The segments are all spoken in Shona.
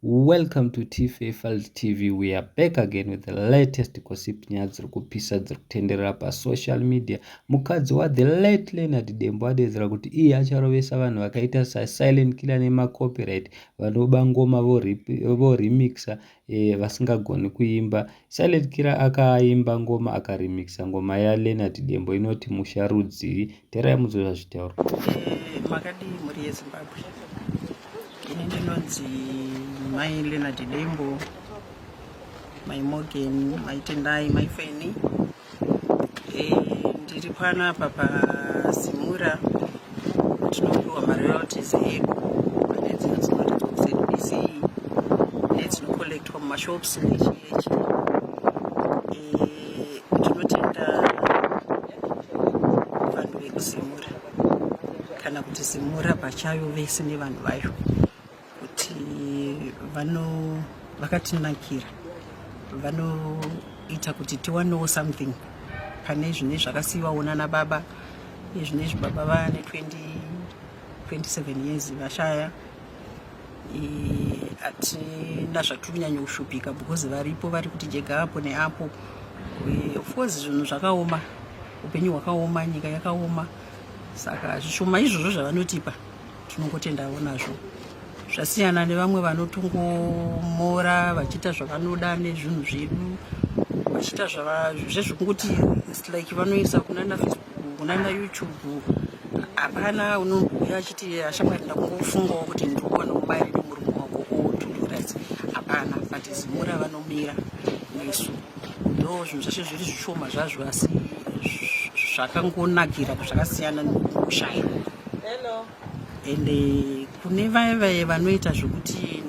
Welcome to Tife Files TV. We are back again with the latest gossip nyaya dziri kupisa dziri kutenderera pasocial media. Mukadzi waThe late Leonard Dembo adeedzera kuti iye acharovesa vanhu vakaita saSilent Killer nemacopyright vanoba ngoma vorimixa eh, vasingagoni kuimba. Silent Killer akaimba ngoma akarimixa ngoma yaLeonard Dembo inoti Musha Rudzii terai mudzore zvitauro makadii mhuri yezimbabwe ini ndinonzi mai leonard dembo mai morgan mai tendai mai feni eh, ndiri pano apa pasimura tinopiwa maroyalties edu pane dzino dzinoratidza kusedbc nedzinocollectwa mumashops nechiyechi Tinotenda vanhu vekuzimura kana kuti zimura pachayo vese nevanhu vayo kuti vano vakatinakira vanoita kuti tiwanewo something pane zvine zvakasiyiwawo nana baba izvinezvi baba vane 20 27 years vashaya hatina zvatiri kunyanya kushupika because varipo vari kuti jega apo neapo eh, of course zvinhu zvakaoma upenyu hwakaoma nyika yakaoma saka zvishoma izvozvo zvavanotipa tinongotendawo nazvo zvasiyana nevamwe vanotongomora vachiita zvavanoda nezvinhu zvedu vachiita zvezvekungoti like vanoisa kunana Kuna ma YouTube hapana unobhuya achiti ashamwari ndakungofungawo kuti ndikuwana mubairo nemurume wako otuduras hapana but zimura vanomira nesu ndo zvinhu zvashe zviri zvishoma zvazvo asi zvakangonakira zvakasiyana nokushaya ende kune vaye vaye vanoita zvekuti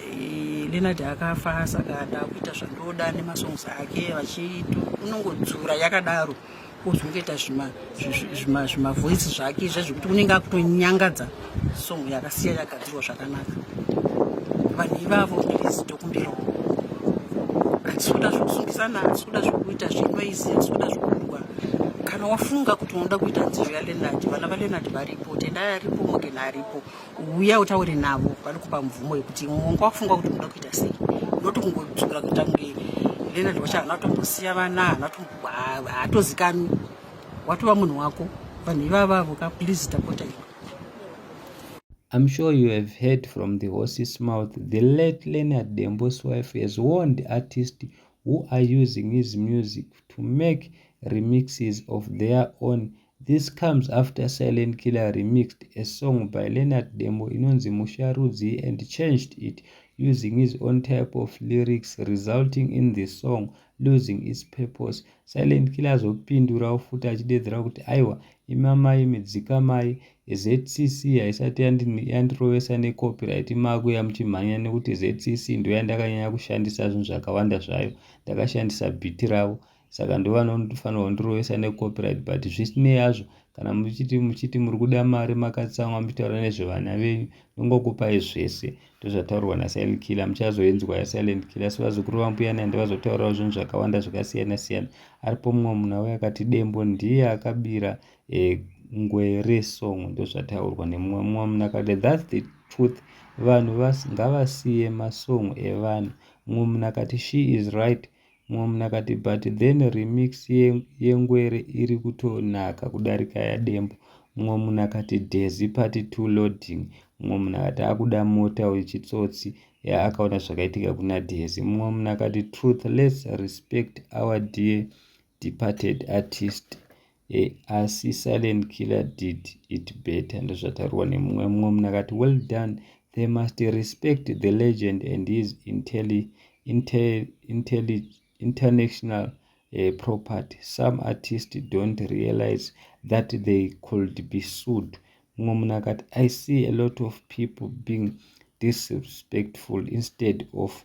Eh, Leonard akafa saka ndakuita zvandoda nemasongs ake vachiito unongodzura yakadaro ozongoita zvimavoice zvake izve zvekuti unenge akutonyangadza song yakasiya yagadzirwa zvakanaka vanhu ivavo ndirizidokumbirawo hatisuda zvekusungizana hatisuda zvekuita zvenoizi hatisuda zvekurwa kana wafunga kuti unoda kuita nziyo yalenard vana valenard varipo tendai aripo mogena aripo uya utaure navo vanokupa mvumo yekuti mwongo wakufunga kuti unoda kuita sei unoti kungotsvukira kuita kunge leonard wacho hana kutombosiya vana hana haatozikanwi watova munhu wako vanhu ivavavo ka please tapota iwe I'm sure you have heard from the horse's mouth. The late Leonard Dembo's wife has warned artists who are using his music to make remixes of their own This comes after Silent Killer remixed a song by Leonard Dembo inonzi Musha Rudzii and changed it using his own type of lyrics resulting in the song losing its purpose. Silent Killer azopindurawo futi achidedzera kuti aiwa imi amai imi dzikamai ZCC haisati yandirovesa necopyright makuya muchimhanya nekuti ZCC ndoyandakanyanya kushandisa zvinhu zvakawanda zvayo ndakashandisa bhiti ravo saka ndovanofanirwa kundirovesa necopyright but zvisinei hazvo kana muchiti muchiti muri kuda mari makatsamwa muchitaura nezvevana venyu ndongokupai zvese ndozvataurwa nasilent killer muchazoinzwa yasilent killer asi vazukuru vambuya nandi vazotaurawo zvinhu zvakawanda zvakasiyana siyana aripo mumwe munhu auya akati dembo ndiye akabira e, eh, ngwere song ndozvataurwa nemumwe mumwe munhu akati thats the truth vanhu ngavasiye masong evanhu mumwe munhu akati she is right Mom nakati but then remix yengwere iri kutonaka kudarika yadembo mumwe munhu akati dhezi part 2 loading mumwe munhu akati akuda mota uyu chitsotsi ya akaona zvakaitika kuna dhezi mumwe munhu akati truth let's respect our dear departed artist e asi silent killer did it better ndozvataurwa nemumwe mumwe munhu akati well done they must respect the legend and his intelli, intel, intelli, international uh, property some artists don't realize that they could be sued mumwe munhu akati i see a lot of people being disrespectful instead of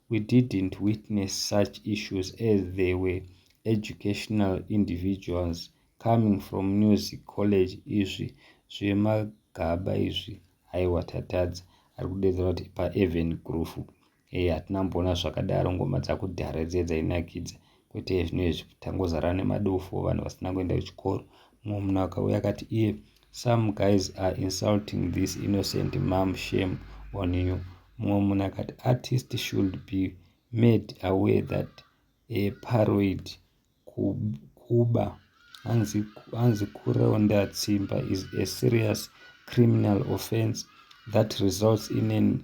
We didn't witness such issues as they were educational individuals coming from music college izvi zvemagaba izvi haiwa tatadza ari kudedzera kuti paeven groove e hatina mboona zvakadaro ngoma dzakudhara dziye dzainakidza kwete zvinhu izvi tangozara nemadofo vanhu vasina kuenda kuchikoro mumwe munhu akauya akati iye some guys are insulting this innocent mom shame on you mumwe munhu akati artist should be made aware that a paroid kuba hanzi kuronda tsimba is a serious criminal offense that results in an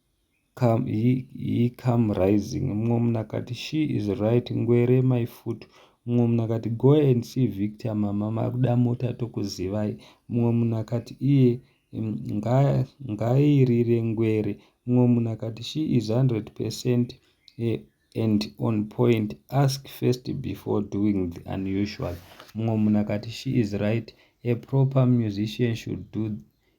He come rising mumwe munhu akati She is right ngwere my foot mumwe munhu akati Go and see Victor mama makuda mota tokuzivai mumwe munhu akati Iye ngairire ngwere mumwe munhu akati She is 100% and on point ask first before doing the unusual mumwe munhu akati She is right a proper musician should do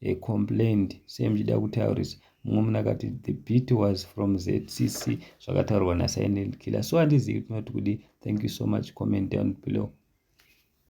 he complained sei muchida kutaurisa mumwe munhu akati the beat was from zcc zvakataurwa nasilent killer so handizivi kuti unoti kudii thank you so much comment down below